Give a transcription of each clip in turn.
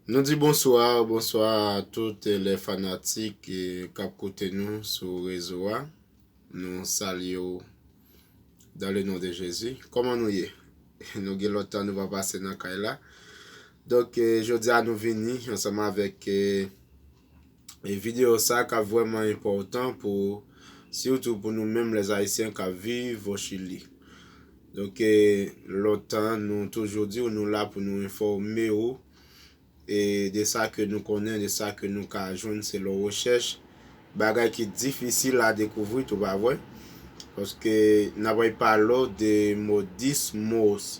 Nou di bonswa, bonswa a tout lè fanatik kap koute nou sou rezo a, nou salye w dan le non de Jezi. Koman nou ye? Nou gen lontan nou pa pase nan kay la. Donk jodi a nou vini ansanm avèk E video sa ka vrèman enpòtan pou sitou pou nou menm les Haïtiens kap viv au Chili. Donk e lontan nou toujou diw nou la pou nou enfòme ou e de sa ke nou konnen de sa ke nou ka jwenn selon rechèch bagay ki difisil a dekouvri tou pa vre paske nap repale w de modis mos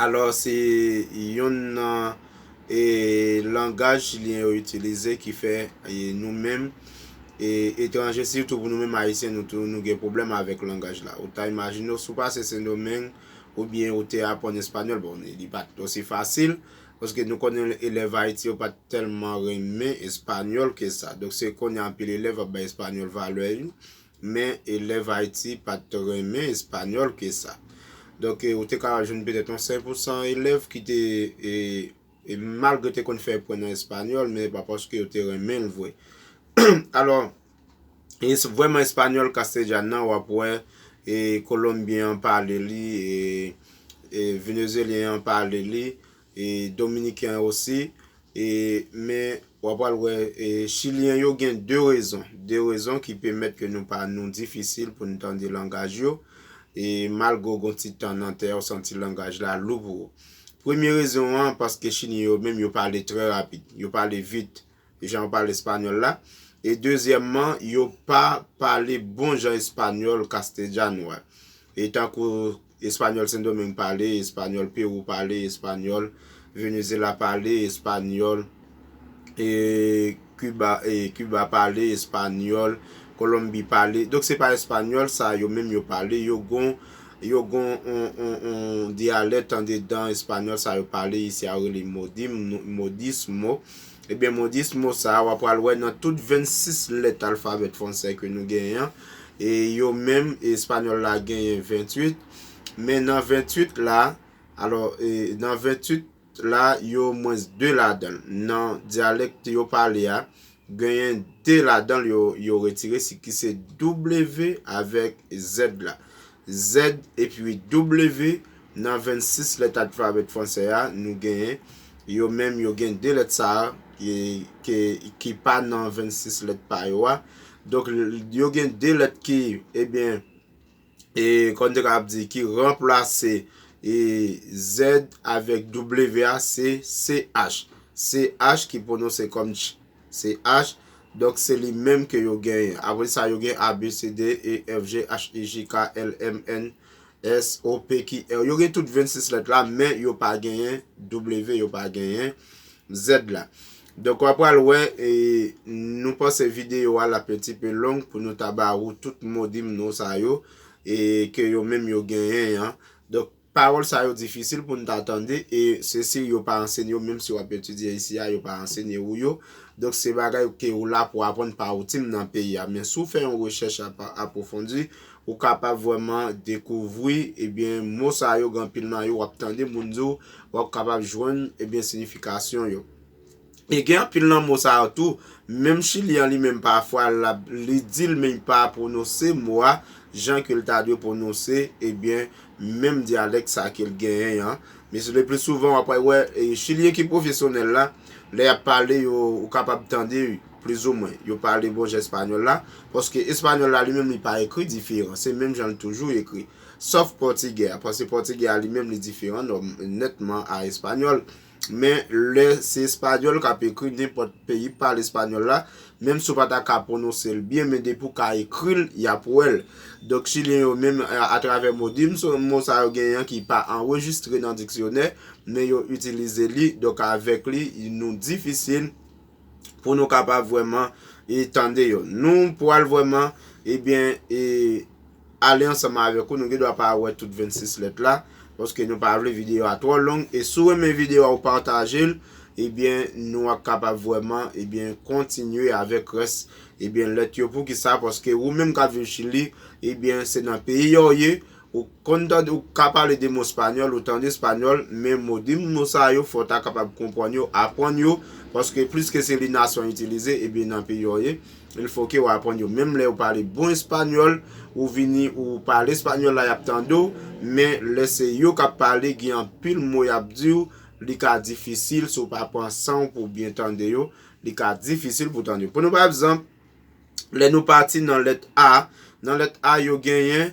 Alòs se youn nan e langaj chilyen yo itilize ki fè e nou menm e etranje sitou pou nou menm ayisyen nou tou nou gen pwoblèm avèk langaj la. Ou ta imajine w si w pase Sendomeng oubyen ou te aprann espanyòl, bon li pa t osi fasil paske nou konnen elèv Ayiti yo pa t tèlman renmen espanyòl ke sa. Donk se kounye a anpil elèv ap bay espanyòl valè li Men, elèv Ayiti pa t renmen espanyòl ke sa. Donk, ou te ka jwenn petèt yon 5 pou san elèv ki te, malgre yo te konn fè pwen nan espanyòl, men pa paske yo te renmen l vre. Alò, vrèman espanyòl Castellane nan, w ap wè Kolonbyen an pale li, Venezyelyen an pale li, e dominiken an osi e men wap pral wè e chilyen yo gen 2 rezon 2 rezon ki pemèt ke nou pa nou difisil pou nou tande langaj yo e malgre w gon ti tan nan tè ou santi langaj la lou pou ou premye rezon an paske chilyen yo menm yo pale trè rapid yo pale vit jan yo pale espanyòl la, e dezyèmman, yo pa pale bon jan espanyòl castellano a, e tankou espanyòl Sendomeng pale, espanyòl Pewou pale, espanyòl Venezyela pale, espanyòl Kiba pale, espanyòl Kolonbi pale, donk se pa espanyòl sa a yo menm yo pale, yo gon yon dyalèt andedan espanyòl sa a yo pale isi a yo rele modismo, Ebyen mo 10 mo sa a wa pral wè nan tout 26 lèt alfabèt fwansè ke nou genyen an e yo menm espanyòl la genyen 28 men nan 28 la alò e nan 28 la yo mwens 2 ladan l nan dyalèkt yo pale a genyen 2 ladan l yo yo retire si ki se w avèk zèd la. Z epi W nan 26 lèt alfabèt franse a nou genyen yo menm yo gen 2 lèt sa a ki pa nan 26 lèt pa yo a. Donk yo gen 2 lèt ki ebyen e kòm te kapab di ki ranplase e Z avèk W a se CH. CH ki pwononse kòm ch CH, donk se li menm ke yo genyen. Apre sa yo gen ABCD, E, F, G, H, I, J, K, L, M, N, S, O, P, Q, R. Yo gen tout 26 lèt la, men yo pa genyen W, yo pa genyen Z la. Donk wap pral wè, nou panse videyo a lap endipe long pou nou ta ba ou tout modim nou sa yo, e ke yo menm yo genyen an. Donk. Pawòl sa yo difisil pou n ta tande e se si yo pa ansenye w menm si w ap etidye isi a yo pa ansenye ou yo. Donk se bagay ke ou la pou w aprann pa ou tim nan peyi a. Men si w fè yon rechèch apwofondi, ou kapab vrèman dekouvri ebyen mo sa yo gen anpil nan yo w ap tande moun di w, w ap kapab jwenn ebyen sinifikasyon yo. E gen anpil nan mo sa yo tou, menm chilyen li menm pafwa lap li di l men pa pwonose mo a jan ke l ta dwe pwonose ebyen menm dyalèk sa ke l genyen an. Men se le pli souvan w ap wè chilyen ki pwofesyonèl la lè y ap pale yo ou kapab tande plizoumwen yo pale bon jan espanyòl la paske espanyòl la li menm li pa ekri diferan se menm jan l toujou ekri sòf pòtigè a paske pòtigè a li menm li diferan nètman a espanyòl. Men, lè se espanyòl k ap ekri, nenpòt peyi k pale espanyòl la, menm si w pa ta ka pwononse l byen, men depi w ka ekri l, y ap wè l. Donk, Chilyen yo menm, atravè modin, se yon mo sa yo genyen an ki pa anrejistre nan diksyonè, men yo itilize li, donk avèk li, nou difisil. pou nou kapab vwèman e tande yo. Nou pwal vwèman ebyen e ale ansanman avèk ou. Nou gen dwa pa wè tout 26 lèt la. Paske nou pa vle videyo a twò long. E sou renmen videyo a ou pataje l. Ebyen nou ap kapab vwèman ebyen kontinye avèk rès ebyen lèt yo. Poukisa paske ou menm kap viv chili ebyen se nan peyi yo ou ye. Ou konn tande ou ka pale 2 mo spanyòl, ou tande spanyòl, men mo 2 mo sa yo fò w ta kapab konprann yo, aprann yo, paske pliske se li nasyon an itilize, ebyen nan peyi w ye, il fò ke w aprann yo. Menm lè ou pale bon espanyòl, ou vini ou pale espanyòl la y ap tande w, men lè se yo k ap pale gen anpil mo y ap di w, li ka difisil si w pa pran san w pou w byen tande yo, li ka difisil pou w tande yo. Pran pa egzanp, lè nou pati nan lèt A, nan lèt A yo genyen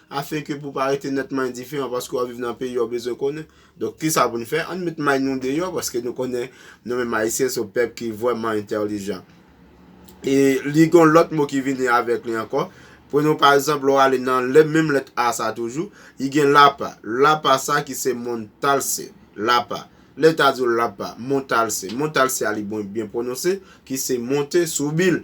Afin ke pou pa rete nètman endiferan paske wap viv nan peyi ou bezwen konnen. Donk kisa pou nou fè? Ann met may nou deyò paske nou konnen nou menm ayisyen son pèp ki vrèman entèlijan. E li gon lòt mo ki vini avèk li ankò. Prenons pa egzanp lè w ale nan lè menm lèt a sa toujou, li gen lapa. Lapa sa ki se montalse. Lapa. Lè ta di w lapa, montalse. Montalse a li byen pwononse ki se monte sou bil.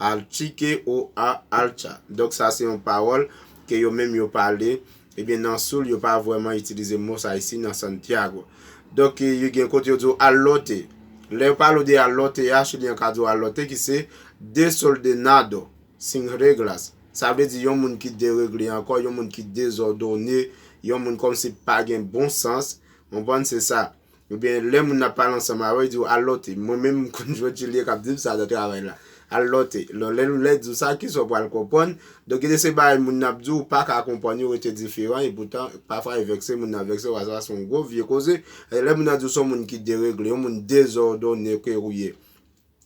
Alchike ou a alcha. Donk sa se yon pawòl ke yo menm yo pale. Ebyen nan Sul yo pa vrèman itilize mo sa isi nan Santiago. Donk yo gen kote yo di ou al lote. Lè yo pale ou de al lote a, Chilyen an ka di ou al lote ki se desoldenado, sin reglas. Sa vle di yon moun ki deregle ankò, yon moun ki dezòdone, yon moun kòmsi pa gen bon sans. Konprann se sa. Ou byen lè moun ap pale ansanm avè w li di w al lòte. Mwen menm m konn jwenn Julie k ap di m sa nan travay la. Al lòte. Lò lè l di w sa ki sa w pral konprann. Donk gen de se bagay moun ap di w ou pa ka konprann yo rete diferan e poutan pafwa yo vèkse moun nan vèkse w a sa se yon gwo vye koze. Lè moun nan di w se yon moun ki deregle, yon moun dezòdone ke ou ye.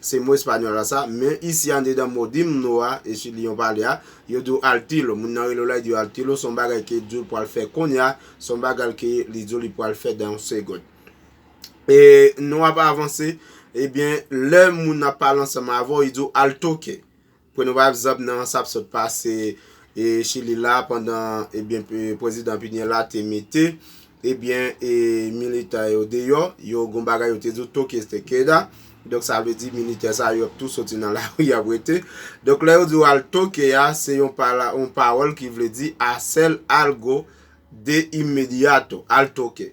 Se mo espanyòl la sa, men isi andedan Modimno a, e si li yon pale a, yo di w al tilo. Moun nan rele w la, li di w al tilo, se yon bagay ke di w pral fè kounye a, se yon bagay ke li di w li pral fè dan yon segond. E nou ap avanse, ebyen, lè moun ap pale ansanm avè w, li di w al toke. Pwen nou pa egzanp nan sa p sot pase chili la pandan ebyen prezidan pinye la te mete ebyen e militan yo deyò yo gon bagay yo te di w toque este queda donk sa vle di militè sa yo ap tou soti nan lari yap rete donk lè yo di w al toque a se yon pawòl ki vle di hacer algo de inmediato al toque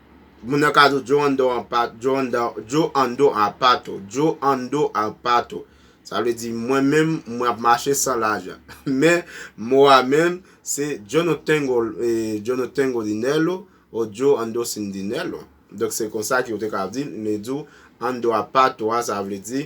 Moun nan ka di w Joe Ando an pa Joe Ando Joe Ando a pa tou Joe Ando a pa tou Sa vle di mwen menm mwen ap mache san lajan Men mo a menm se Jono Tengo e Jono Tengo Dinello o Joe Ando Sin Dinello Donk se konsa ki ou te ka di l Li di w Ando a pa tou a sa vle di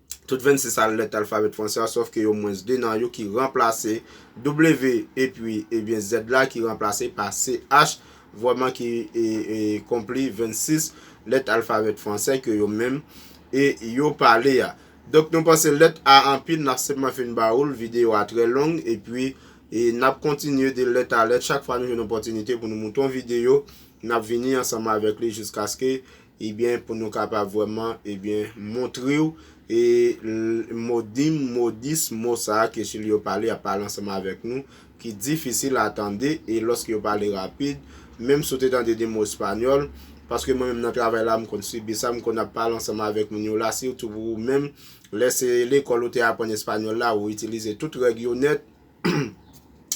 tout 26 sa lèt alfabèt franse a sòf ke yo mwens 2 nan yo ki ranplase W epi ebyen Z la ki ranplase pa CH vrèman ki konpli 26 lèt alfabèt franse ke yo menm e yo pale a. Donk nou panse lèt A anpil nap senpman fin ba oul videyo a trè long epi e nap kontinye de lèt a lèt chak fwa nou jwenn opòtinite pou nou moute yon videyo nap vini ansanm avèk li jiskaske Ebyen pou nou kapab vrèman ebyen montrew e modim, modis, mo sa ke sil yo pale ap pale ansanm avèk nou ki difisil a tande e lòske yo pale rapid menm si w te tande 2 mo espanyòl paske mwen menm nan travay la m konn sibi sa m konn ap pale ansanm avèk moun yo la sitou pou ou menm lè se lekòl ou te aprann espanyòl la ou itilize tout règ yo nèt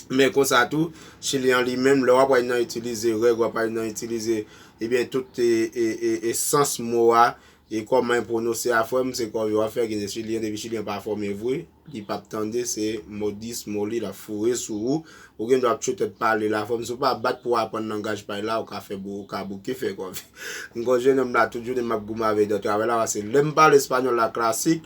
Men konsa tou, Chili an li menm, lè w ap wè nan itilize règ, w ap wè nan itilize, ebyen tout e sans mo a, e kòman e pwonose a frè m, se kò yo ap fè ginen Chili an, depi Chili an pa fòme vre, li p ap tande, se modis mo li l ap foure sou ou, ou gen dwa ap tchwete tèt pale la frè m, si w pa bat pou w aprann langaj pay la, ou ka fè bou, ou ka bouke fè kò vè. M kon jenòm la tout jounen m ap goumen avè l nan travay la, pase lè m pale espanyòl la klasik,